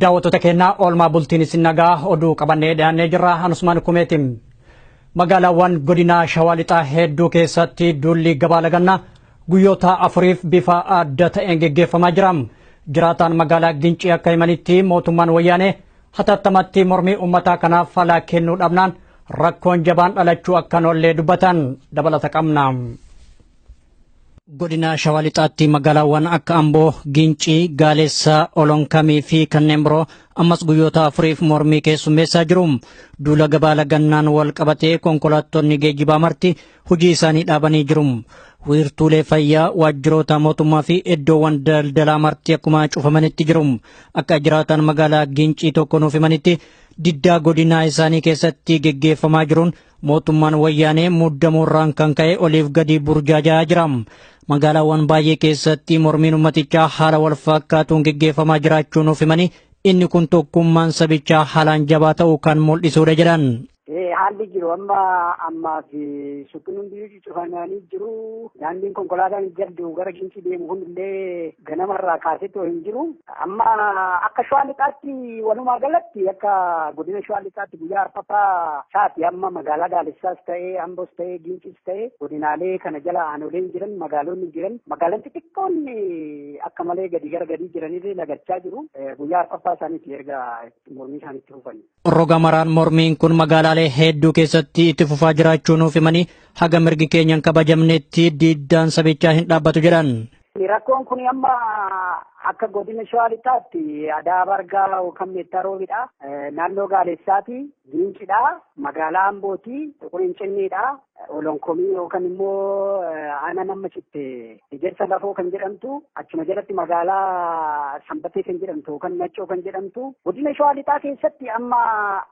daawwattoota keenyaa oolmaa bultiin isin nagaa oduu qabannee dhiyaannee jirra anusmaan kumeetiin magaalaawwan godinaa shawaa lixaa hedduu keessatti duulli gabaa lagannaa guyyoota afuriif bifa adda ta'een geggeeffamaa jira jiraataan magaalaa gincii akka himanitti mootummaan wayyaanee Hatattamattii mormii uummataa kanaaf falaa kennuu dhabnaan rakkoon jabaan dhalachuu akka noollee dubbatan dabalata qabna. Godina Shawaa Lixaatti magaalaawwan akka Amboo, Gincii, Gaaleessaa, Olonkamii fi kanneen biroo ammas guyyoota afuriif mormii keessummeessaa jiru. Duula gabaa lagannaan wal qabatee konkolaattonni geejjibaa marti hojii isaanii dhaabanii jiru. Wiirtuulee fayyaa, waajjiroota mootummaa fi iddoowwan daldalaa marti akkuma cufamanitti jiru. Akka jiraataan magaalaa Gincii tokko nuuf himanitti diddaa godinaa isaanii keessatti geggeeffamaa jiruun mootummaan wayyaanee muddamuurraan kan ka'e oliif gadi burjaajaa jira. Magaalaawwan baay'ee keessatti mormiin ummatichaa haala wal fakkaatuun geggeeffamaa jiraachuu nuuf himanii inni kun tokkummaan sabichaa haalaan jabaa ta'uu kan mul'isuudha jedhan. Haalli jiru amma ammaa fi suuqiin hundii cufamanii jiru. Daandiin konkolaataan jaddu gara Gincii deemu hundillee ganamarraa kaaseetoo hin jiru. Amma akka shawaa lixaatti walumaa galatti akka godina shawaa lixaatti guyyaa arfaffaa isaati amma magaalaa Daalessaas ta'ee Amboos ta'ee Ginciis ta'ee godinaalee kana jala aanoleen jiran magaalonni jiran magaalaan xixiqqoon akka malee gadi gara gadii jiranillee lagachaa jiru. Guyyaa arfaffaa isaaniiti erga mormii isaaniitti fufanii. Roga maraan mormiin kun magaalaalee hedduu keessatti itti fufaa jiraachuu nuuf himanii haga mirgi keenya hin kabajamnetti diddaan sabichaa hin dhaabbatu jedhan. Rakkoon kun amma akka godina shawaa lixaatti adaa bargaa yookaan meettaa roobidha. Naannoo gaalessaati, giincidha, magaalaa ambooti, xuquriin cinniidha. Olonkomii yookaan immoo aanaan amma citte ejersa lafoo kan jedhamtu achuma jalatti magaalaa sanbatee kan jedhamtu yookaan naccoo kan jedhamtu godina shawaa lixaa keessatti amma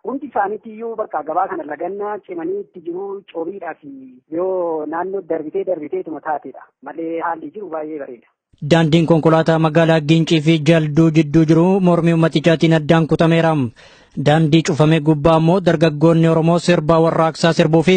hundi isaaniitti iyyuu bakka gabaa kana lagannaa cimanii itti jiru coobiidhaa fi yoo naannoo darbitee darbiteetuma taatedha malee haalli jiru baay'ee bareeda. Daandiin konkolaataa magaalaa Giincii fi Jalduu jidduu jiru mormii ummatichaatiin addaan kutameera. Daandii cufame gubbaa ammoo dargaggoonni Oromoo sirbaa warraaqsaa sirbuu fi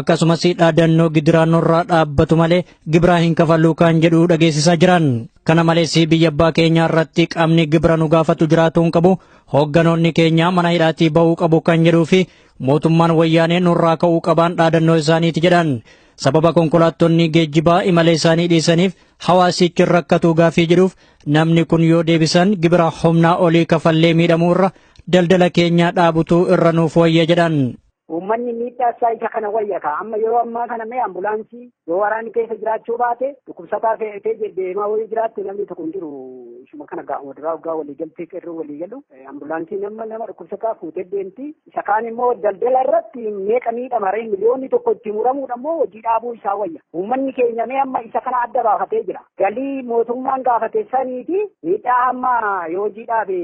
akkasumas dhaadannoo gidiraa nurraa dhaabbatu malee gibiraa hin kafaluu kan jedhu dhageessisaa jiran. Kana malees biyya abbaa keenyaa irratti qaamni gibira nu gaafatu jiraatuu hin qabu, hoogganoonni keenyaa mana hidhaatii ba'uu qabu kan jedhuu fi mootummaan wayyaanee nurraa ka'uu qabaan dhaadannoo isaaniiti jedhan. Sababa konkolaattonni geejjibaa imala isaanii dhiisaniif hawaasichi rakkatuu gaafii jedhuuf namni kun yoo deebisan gibira humnaa olii kafallee miidhamuu irra daldala keenyaa dhaabutuu irra nuuf wayya jedhan. Uummanni miidhaa isaa isa kana wayya ka'a. Amma yeroo ammaa kana mee ambulaansii yoo waraanni keessa jiraachuu baate dhukkubsataa fe'atee deddeemaa wayii jiraatti namni tokko hin jiru. Ishuma kana gaa'uma duraa waggaa walii galtee qeerroo walii galu ambulaansiin amma nama dhukkubsataa fuutee deemti. Isa kaan immoo daldala irratti meeqa miidhama ree miliyoonni tokko itti muramuudha immoo hojii dhaabuu isaa wayya. Uummanni keenya mee amma isa kana adda baafatee jira. Galii mootummaan gaafate sanii fi miidhaa amma yoo hojii dhaabe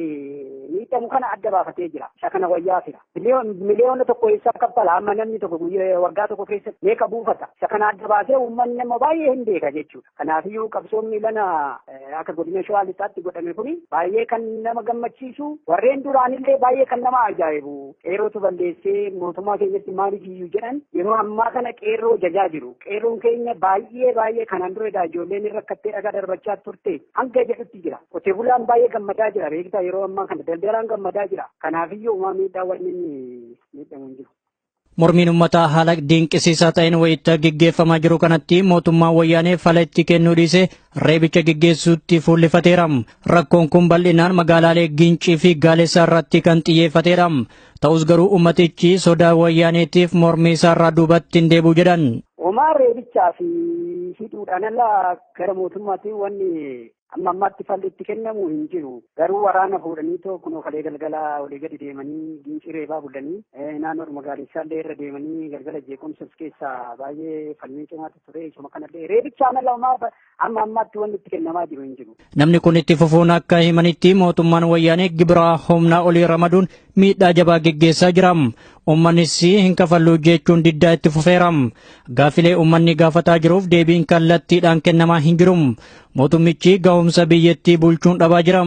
miidhamu kana adda baafatee jira. Isa kana wayyaa fira. Miliyoona tokko eessaa kaffala amma namni tokko waggaa tokko keessatti meeqa buufata. Isa kana adda baasee uummanni amma baay'ee hin beeka jechuudha. Kanaafiyyuu qabsoon miilana akka godina Shawaa Lixaatti godhame kuni baay'ee kan nama gammachiisu warreen duraanillee baay'ee kan nama ajaa'ibu qeerrootu balleessee mootummaa keenyatti maaliif iyyuu jedhan yeroo ammaa kana qeerroo jajaa jiru qeerroon keenya baay'ee baay'ee kanaan duredha ijoolleen irra kattee dhagaa darbachaa turte hanga jedhutti jira qotee bulaan baay'ee gammadaa jira beektaa yeroo ammaa kana daldalaan gammadaa jira kanaafiyyuu uumaa miidhaa wanni miidhamu hin jiru. Mormiin ummataa haala dinqisiisaa ta'een wayita gaggeeffamaa jiru kanatti mootummaan wayyaanee fala itti kennuu dhiisee reebicha gaggeessuutti fuullifateera. Rakkoon kun bal'inaan magaalaalee Gincii fi Gaaleessaa irratti kan xiyyeeffateedha. Ta'us garuu ummatichi sodaa wayyaaneetiif mormii isaarraa duubatti hin deebi'u jedhan. Homaa reebichaa fi hidhuudhaan ala gara mootummaatti wanni Amma ammaatti falli itti kennamu hin jiru. Garuu waraana fuudhanii too kunoo kalee galgala olii gadi deemanii gincii reebaa bulanii naannoodhuma gaadissaa illee irra deemanii galgala jeequmsa of keessaa baay'ee falmii cimaatu ture isuma kanallee reebichaan ala amma ammaatti wanni itti kennamaa jiru hin jiru. Namni kun itti fufuun akka himanitti mootummaan wayyaanee gibiraa humnaa olii ramaduun miidhaa jabaa geggeessaa jira. Uummannis hin kafalluu jechuun diddaa itti fufeera. Gaaffilee uummanni gaafataa jiruuf deebiin kallattiidhaan kennamaa hin jiru. Mootummichi gahumsa biyyattii bulchuun dhabaa jira.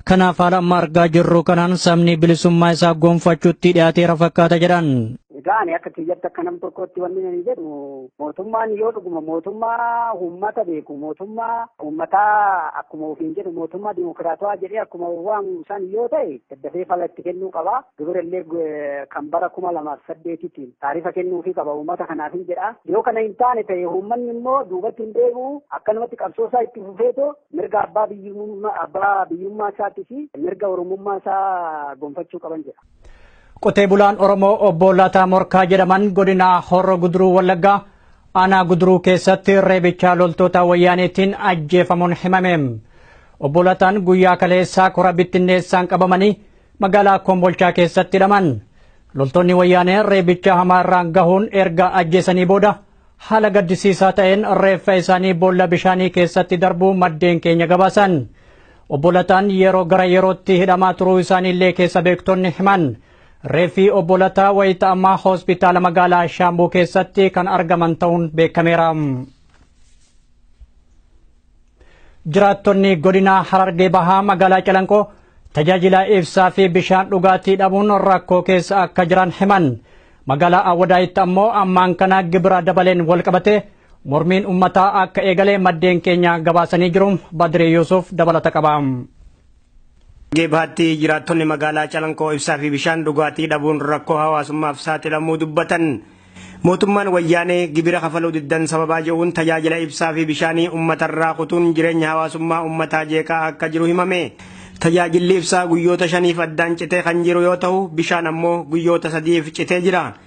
Kanaaf haala amma argaa jirru kanaan sabni bilisummaa isaa gonfachuutti dhiyaateera fakkaata jedhan. Egaa ani akka kiyyatti akka nam tokkootti wanni ani jedhu mootummaan yoo dhuguma mootummaa uummata beeku mootummaa uummataa akkuma ofiin jedhu mootummaa dimokiraatawaa jedhee akkuma waamu san yoo ta'e dafee fala itti kennuu qaba. Gibira illee kan bara kuma lamaaf saddeetitiin taarifa kennuufii qaba uummata kanaaf hin jedha. Yoo kana hin taane ta'e uummanni immoo duubatti hin deebi'u akkanumatti qabsoo isaa itti fufeetoo mirga abbaa biyyummaa abbaa biyyummaa isaatii fi mirga oromummaa isaa gonfachuu qaban jedha. Qotee bulaan Oromoo obbo Lataa Morkaa jedhaman godina Horro Guduruu Wallaggaa Aanaa Guduruu keessatti reebichaa loltoota wayyaaneetiin ajjeefamuun himame. Obbo Lataan guyyaa kaleessaa kora bittinneessaan qabamanii magaalaa Kombolchaa keessatti hidhaman. Loltoonni wayyaanee reebicha hamaa irraan gahuun erga ajjeesanii booda haala gaddisiisaa ta'een reeffa isaanii boolla bishaanii keessatti darbuu maddeen keenya gabaasan. Obbo Lataan yeroo gara yerootti hidhamaa turuu isaaniillee keessa beektonni himan. Reeffi obbo Lataa wayita ammaa hospitaala magaalaa Shaambuu keessatti kan argaman ta'uun beekameera. Jiraattonni godina Harargee Bahaa magaalaa Calanqoo tajaajila ibsaa fi bishaan dhugaatii dhabuun rakkoo keessa akka jiran himan. Magaalaa Awwadaayitti ammoo ammaan kana gibira dabaleen walqabatee mormiin ummataa akka eegale maddeen keenya gabaasanii jiru. Badree Yuusuf dabalata qaba. Harargee Bahaatti jiraattonni magaalaa Calankoo ibsaa fi bishaan dhugaatii dhabuun rakkoo hawaasummaaf saaxilamuu dubbatan. Mootummaan Wayyaanee gibira kafaluu diddan sababaa jedhuun tajaajila ibsaa fi bishaanii uummatarraa kutuun jireenya hawaasummaa uummataa jeeqaa akka jiru himame. Tajaajilli ibsaa guyyoota shaniif addaan citee kan jiru yoo ta'u, bishaan ammoo guyyoota sadiif citee jira.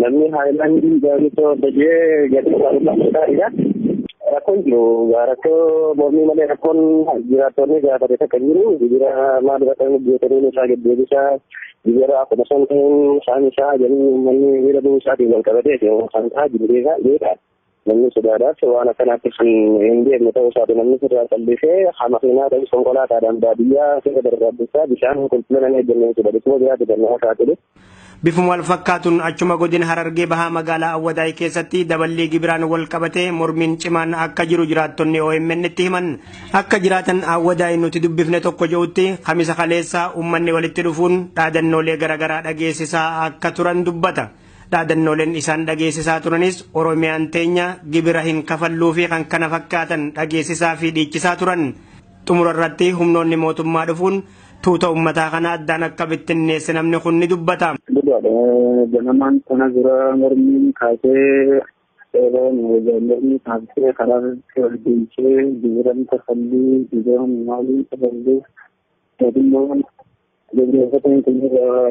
Namni haayilaandii gaariitoo hojjetee gatii gaariidhaan gaariidha. Rakkoon jiru rakkoo mormii malee rakkoon jiraattonni gaafate takka jiru jijira maal irratti hojjetanii isaa gaddeebisa jijira akkuma santiin isaan isaa jedhanii uummanni miidha bu'uu isaatiin wal qabatee kan ta'aa jiru beekaa. Namni sodaadhaaf waan akkanaatti kan hin deemne ta'uu isaati namni sirraa callisee hamakinaa ta'us konkolaataadhaan baadiyyaa sirra darbaaddisaa bishaan qulqullina hin eegganne jechuudha. Dhukkuba biraatti kan nama saaxilu. Bifuma wal fakkaatuun achuma godina Harargee Bahaa magaalaa Awwadaay keessatti daballii gibiraan wal qabatee mormiin cimaan akka jiru jiraattonni OMN itti himan. Akka jiraatan Awwadaay nuti dubbifne tokko jedhutti kamisa kaleessaa uummanni walitti dhufuun dhaadannoolee garaagaraa dhageessisaa akka turan dubbata. Dhaadannooleen isaan dhageessisaa turanis Oromiyaan teenya gibira hin kafalluu fi kan kana fakkaatan dhageessisaa fi dhiichisaa turan. Xumura irratti humnoonni mootummaa dhufuun tuuta ummataa kana addaan akka bittinneesse namni kun ni dubbata. Dhugaadha. Ganamaan kana dura mormiin kaasee yeroo mormii kaasee karaa irratti wal deemsee gibiran kafalluu gibiran maaliin kafalluu mootummaan gaggeeffataan kun irraa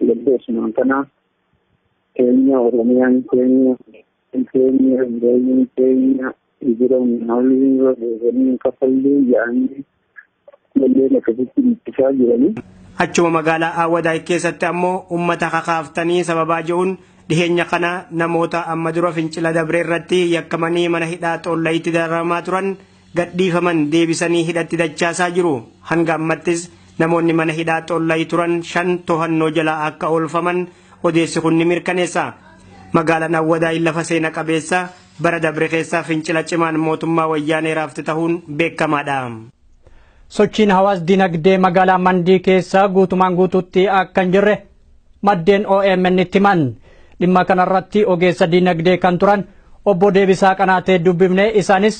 Lubbu Usmaan kanaa keenya Oromiyaan keenya keenya jireenyi keenya jiran haalli roobanii kafallee yaa'anii lollee akkasitti ittisaa jiranii. Achuma magaalaa Aawwadaay keessatti ammoo uummata kakaaftanii sababaa je'uun dhiheenya kana namoota amma dura fincila dabre irratti yakkamanii mana hidhaa Xoollayitti dararamaa turan gadhiifaman deebisanii hidhatti dachaasaa jiru. Hanga ammattis namoonni mana hidhaa Xollayi turan shan tohannoo jala akka oolfaman odeessi kun ni mirkaneessa. Magaalaan Awwadaay lafa seena qabeessa bara dabre keessaa fincila cimaan mootummaa wayyaanee raafte tahuun beekamaadha. Sochiin hawaas dinagdee magaalaa Mandii keessa guutumaan guutuutti akka hin jirre maddeen omn itti himan dhimma kanarratti ogeessa diinagdee kan turan obbo deebisaa qanaatee dubbifne isaanis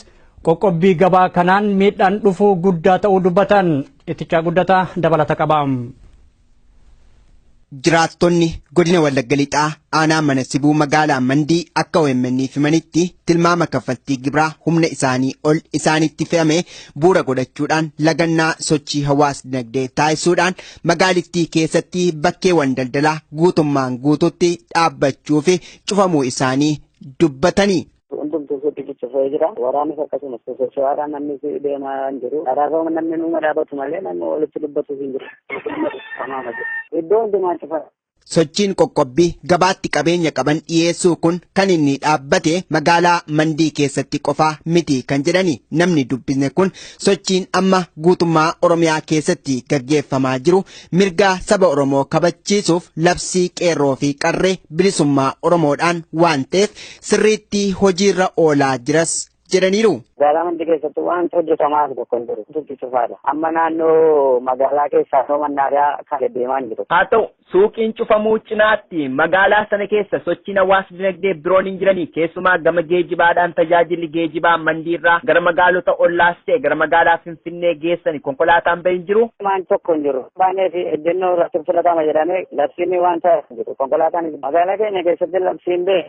qoqqobbii gabaa kanaan miidhaan dhufuu guddaa ta'uu dubbatan ittichaa guddataa dabalata qaba. Jiraattonni godina Wallagga Lixaa aanaa mana sibuu magaalaa Mandii akka OMN himanitti tilmaama kaffaltii gibraa humna isaanii ol isaanitti fe'ame bu'uura godhachuudhaan lagannaa sochii hawaas dinagdee taasisuudhaan Magaalittii keessatti bakkeewwan daldalaa guutummaan guututti dhaabbachuu fi cufamuu isaanii dubbatanii. hundumtuu suuqii ciccifo'ee jira. Waraanis akkasumas sosocho'aadha namni si deemaa hin jiru. Karaarra namni numa dhaabatu malee namni walitti dubbatu hin jiru. Iddoo hundumaa cufa. Sochiin qoqqobbii gabaatti qabeenya qaban dhiyeessuu kun kan inni dhaabbate magaalaa Mandii keessatti qofaa miti kan jedhani namni dubbisne kun sochiin amma guutummaa Oromiyaa keessatti gaggeeffamaa jiru mirgaa saba Oromoo kabachiisuuf labsii qeerroo fi qarree bilisummaa Oromoodhaan waan ta'eef sirriitti hojiirra oolaa jiras jedhaniiru. Magaalaa Mandii keessatti wanti hojjetamaa jiru tokko hin jiru. Dubbi cufaadha. Amma naannoo magaalaa keessaa naannoo mannaadaa kan deddeemaa hin jiru. Haa ta'u, suuqiin cufamuu cinaatti magaalaa sana keessa sochiin hawaas dinagdee biroon hin jirani. Keessumaa gama geejibaadhaan tajaajilli geejibaa Mandiirraa gara magaalota ollaas ta'e gara magaalaa Finfinnee geessani konkolaataan ba'e hin jiru. Waan tokko hin jiru. Baanee fi ejjennoo irratti filatama jedhamee labsiin wanta jiru. Konkolaataan magaalaa keenya keessatti labsiin ba'e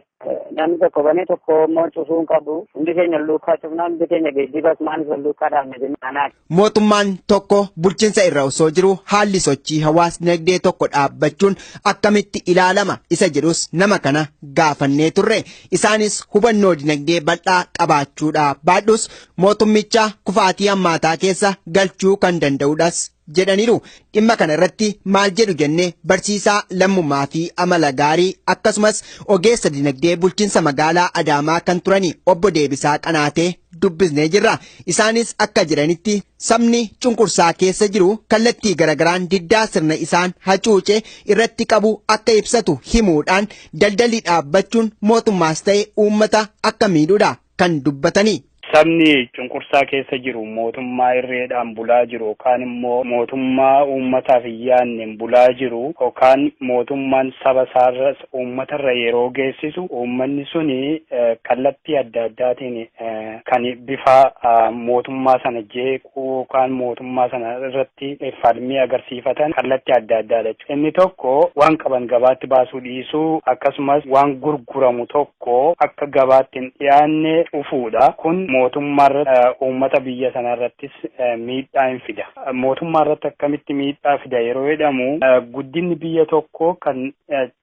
Namni tokko banee tokko immoo cufuu hin qabu. Hundi keenya luukaa cufnaa hundi keenya geejjibas maanis wal luukaa dhaabne jennaan. Mootummaan tokko bulchinsa irra osoo jiru haalli sochii hawaas dinagdee tokko dhaabbachuun akkamitti ilaalama isa jedhus nama kana gaafannee turre. Isaanis hubannoo dinagdee bal'aa qabaachuudha baadhus mootummicha kufaatii hammaataa keessa galchuu kan danda'udhas jedhaniiru. Dhimma kana irratti maal jedhu jennee barsiisaa lammummaa fi amala gaarii akkasumas ogeessa dinagdee bulchiinsa magaalaa Adaamaa kan turani obbo Deebisaa Qanaatee dubbisnee jirra. Isaanis akka jedhanitti sabni cunqursaa keessa jiru kallattii garagaraan diddaa sirna isaan hacuuce irratti qabu akka ibsatu himuudhaan daldalli dhaabbachuun mootummaas ta'e uummata akka miidhudha. kan dubbatanii. Sabni cunqursaa keessa jiru mootummaa irreedhaan bulaa jiru yookaan immoo mootummaa uummataaf hin yaadneen bulaa jiru yookaan mootummaan saba isaarras uummatarra yeroo geessisu uummanni suni kallattii adda addaatiin kan bifa mootummaa sana jeequu yookaan mootummaa sana irratti falmii agarsiifatan kallattii adda addaadha jechuudha. Inni tokko waan qaban gabaatti baasuu dhiisuu akkasumas waan gurguramu tokko tokko akka gabaatti hin dhiyaanne dhufuudha. Kun mootummaarratti, uummata biyya sanaarrattis miidhaa hin fida. Mootummaarratti akkamitti miidhaa fida yeroo jedhamu, guddinni biyya tokkoo kan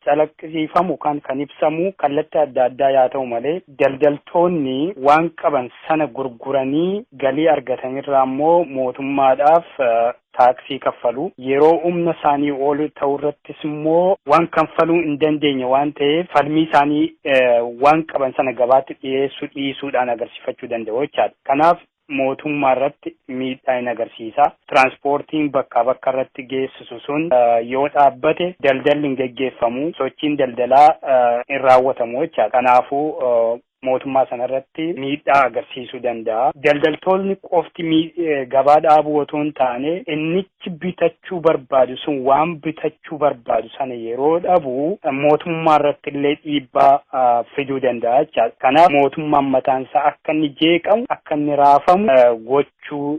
calaqqisiifamu yookaan kan ibsamu kallattii adda addaa yaa ta'u malee, daldaltoonni waan qaban sana gurguranii galii argatanirraa immoo mootummaadhaaf taaksii kaffalu. Yeroo humna isaanii ol ta'u irrattis immoo waan kanfaluu hin dandeenye waan ta'eef falmii isaanii waan qaban sana gabaatti dhiyeessuu dhiisuudhaan agarsiifachuu danda'u jechaadha. Kanaaf mootummaa irratti miidhaa in agarsiisa. Tiraansipoortiin bakkaa bakka irratti geessisu sun yoo dhaabbate daldalli hin geggeeffamu, sochiin daldalaa hin raawwatamu jechaadha. Kanaafuu mootummaa sana irratti miidhaa agarsiisuu danda'a. Daldaltoonni qofti gabaa dhaabuu otoo hin taane innichi bitachuu barbaadu sun waan bitachuu barbaadu sana yeroo dhabu mootummaa irratti illee dhiibbaa fiduu danda'a jechaadha. Kanaaf mootummaan mataan isaa akka inni jeeqamu, akka inni raafamu gochuu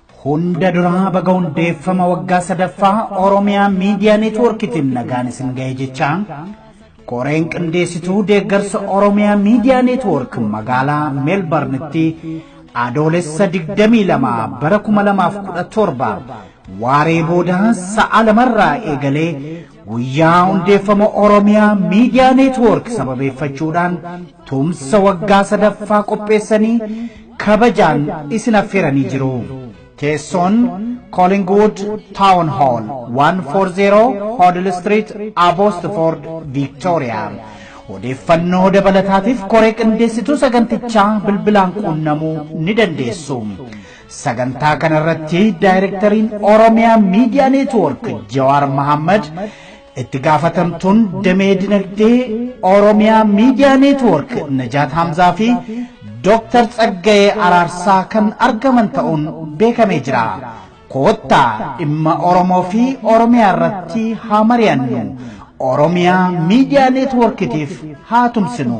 Hunda duraa baga hundeeffama waggaa sadaffaa Oromiyaa Miidiyaa Neetwoorkitiin nagaan isin ga'e jechaa koreen qindeessituu deeggarsa Oromiyaa Miidiyaa Neetwoork magaalaa Meelbarnitti adoolessa 22 bara 2017 waaree booda sa'a lamarraa eegalee Guyyaa hundeeffama Oromiyaa Miidiyaa Neetwoork sababeeffachuudhaan tumsa waggaa sadaffaa qopheessanii kabajaan isin affeeranii jiru. Teessoon Collingwood Town Hall 140 Hoddle Street, Abbotsford, Victoria. Odeeffannoo dabalataatiif koree qindeessituu sagantichaa bilbilaan quunnamuu ni dandeessu. Sagantaa kanarratti daayirektariin Oromiyaa Miidiyaa Neetwoork Jawaar Mahammad itti gaafatamtuun damee dinagdee Oromiyaa Miidiyaa Neetwoork Najaat Hamzaa fi Dooktar Tsaggayee Araarsaa kan argaman ta'uun beekamee jira. Koottaa dhimma Oromoo fi Oromiyaa irratti haa mari'annu. Oromiyaa Miidiyaa Neetwoorkitiif haa tumsinu.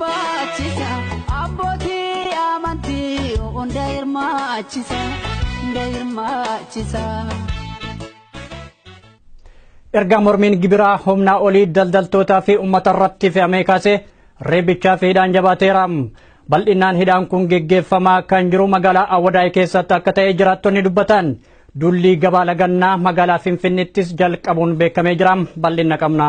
Baachisa abbootii amantii hunda hirmaachisa hunda hirmaachisa. Erga mormiin gibiraa humnaa olii daldaltootaa fi uummata irratti fe'amee kaasee reebichaa fi hidhaan jabaateera. Bal'inaan hidhaan kun geggeeffamaa kan jiru magaalaa Awwadaay keessatti akka ta'e jiraattonni dubbatan. Dullii gabaa lagannaa magaalaa Finfinneettis jalqabuun beekamee jira. Bal'ina qabna.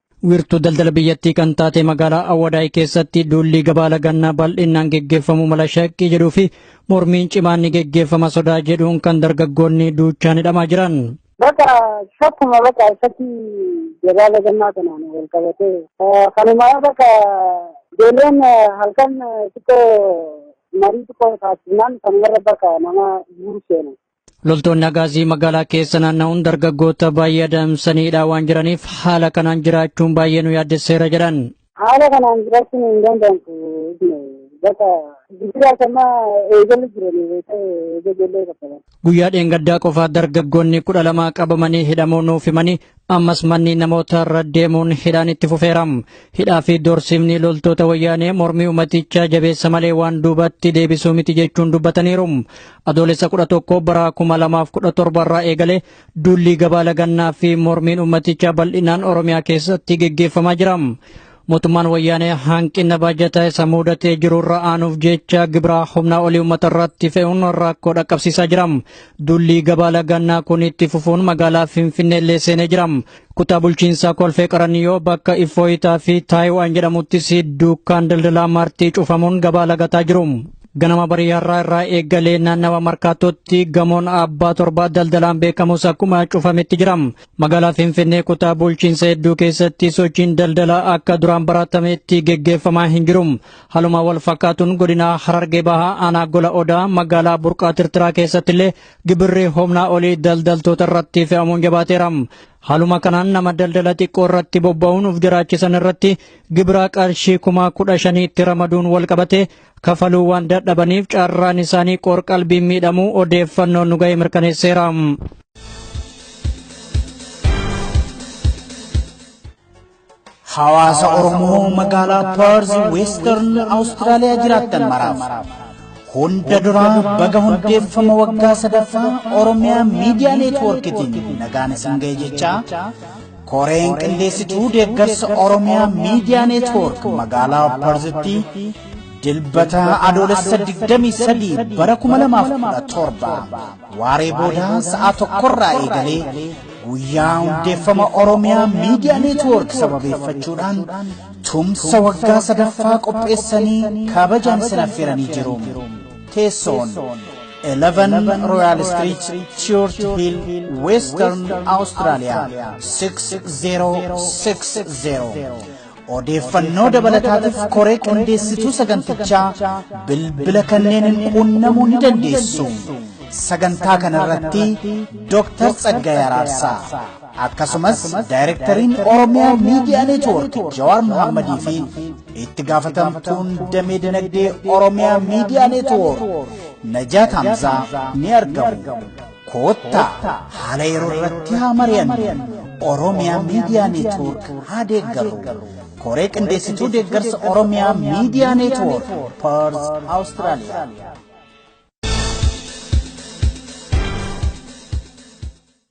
Wiirtuu daldala biyyattii kan taate magaalaa Awwadaay keessatti duulli gabaa lagannaa bal'inaan geggeeffamuu mala shakkii jedhuu fi mormiin cimaan ni geggeeffama sodaa jedhuun kan dargaggoonni duuchaan hidhamaa jiran. Bakka shakkuma bakka isatti gabaa lagannaa kanaan wal qabatee kanuma bakka ijoolleen halkan xiqqoo marii xiqqoo taasisnaan kanumarra bakka nama guuru seenu. Loltoonni Agaazii magaalaa keessa naanna'uun dargaggoota baay'ee adamsanii hidhaa waan jiraniif haala kanaan jiraachuun baay'ee nu yaaddesseera jedhan. Haala kanaan jiraachuun hin danda'amtu. Bakka jijjiiraa sammaa eegalu jiran eegalee qaqqaban. Guyyaa dheengaddaa qofaa dargaggoonni kudha lama qabamanii hidhamuu nuuf himanii ammas manni namoota irra deemuun hidhaan itti fufeera. Hidhaa fi doorsiifni loltoota wayyaanee mormii uummatichaa jabeessa malee waan duubatti deebisuu miti jechuun dubbataniiru. Adoolessa kudha tokko bara kuma lamaaf kudha torba irraa eegalee duulli gabaa lagannaa fi mormiin uummatichaa bal'inaan Oromiyaa keessatti geggeeffamaa jira. Mootummaan wayyaanee hanqina baajataa isa muudatee jiru irra aanuuf jecha gibiraa humnaa olii uummata irratti fe'uun rakkoo dhaqqabsiisaa jira. Dullii gabaa lagannaa kun itti fufuun magaalaa Finfinnee illee seenee jira. Kutaa bulchiinsaa Kolfee Qaraniyoo bakka Iffooyitaa fi Taayiwaan jedhamuttis dukkaan daldalaa martii cufamuun gabaa lagataa jiru. Ganama barii har'aa irraa eegalee naannawa markaatootti gamoon abbaa torbaa daldalaan beekamus akkuma cufametti jira. Magaalaa Finfinnee kutaa bulchiinsa hedduu keessatti sochiin daldalaa akka duraan baratametti geggeeffamaa hin jiru. Haluma wal fakkaatuun godinaa Harargee Bahaa aanaa Gola Odaa magaalaa Burqaa Tirtiraa keessatti illee gibirri humnaa olii daldaltoota irratti fe'amuun jabaateera. Haaluma kanaan nama daldala xiqqoo irratti bobba'uun of jiraachisan irratti gibira qarshii kuma kudha shaniitti ramaduun wal qabate kafaluu waan dadhabaniif carraan isaanii qoorqalbiin miidhamuu odeeffannoon nu ga'e mirkaneesseera. hawaasa Oromoo magaalaa Perth Western Australia jiraattan maraaf hunda duraa baga hundeeffama waggaa sadaffaa Oromiyaa Miidiyaa Neetwoorkitiin nagaan isin ga'e jechaa Koreen qindeessituu deeggarsa Oromiyaa Miidiyaa Neetwoork magaalaa Parzitti dilbata adoolessa 23 bara 2017 waaree boodaa sa'a tokkorraa eegalee guyyaa hundeeffama Oromiyaa Miidiyaa Neetwoork sababeeffachuudhaan tumsa waggaa sadaffaa qopheessanii kabajaan isin affeeranii jiru. Teessoon 11 Royal Street, Church Hill, Western Australia 6060. Odeeffannoo dabalataatiif koree qindeessituu sagantichaa bilbila kanneen qunnamuu ni dandeessu. Sagantaa kanarratti Dooktar Tsaggaayee Araarsaa. Akkasumas Daayirektariin Oromiyaa Miidiyaa Neetwoork Jawaar Mohaammadii fi itti gaafatamtuun damee dinagdee Oromiyaa Miidiyaa Neetwoork Najaat Hamzaa ni argamu. Koottaa haala yeroo irratti haa mari'annu. Oromiyaa Miidiyaa Neetwoork haa deeggarru. Koree qindeessituu deeggarsa Oromiyaa Miidiyaa Neetwoork Perth Awustiraaliyaa.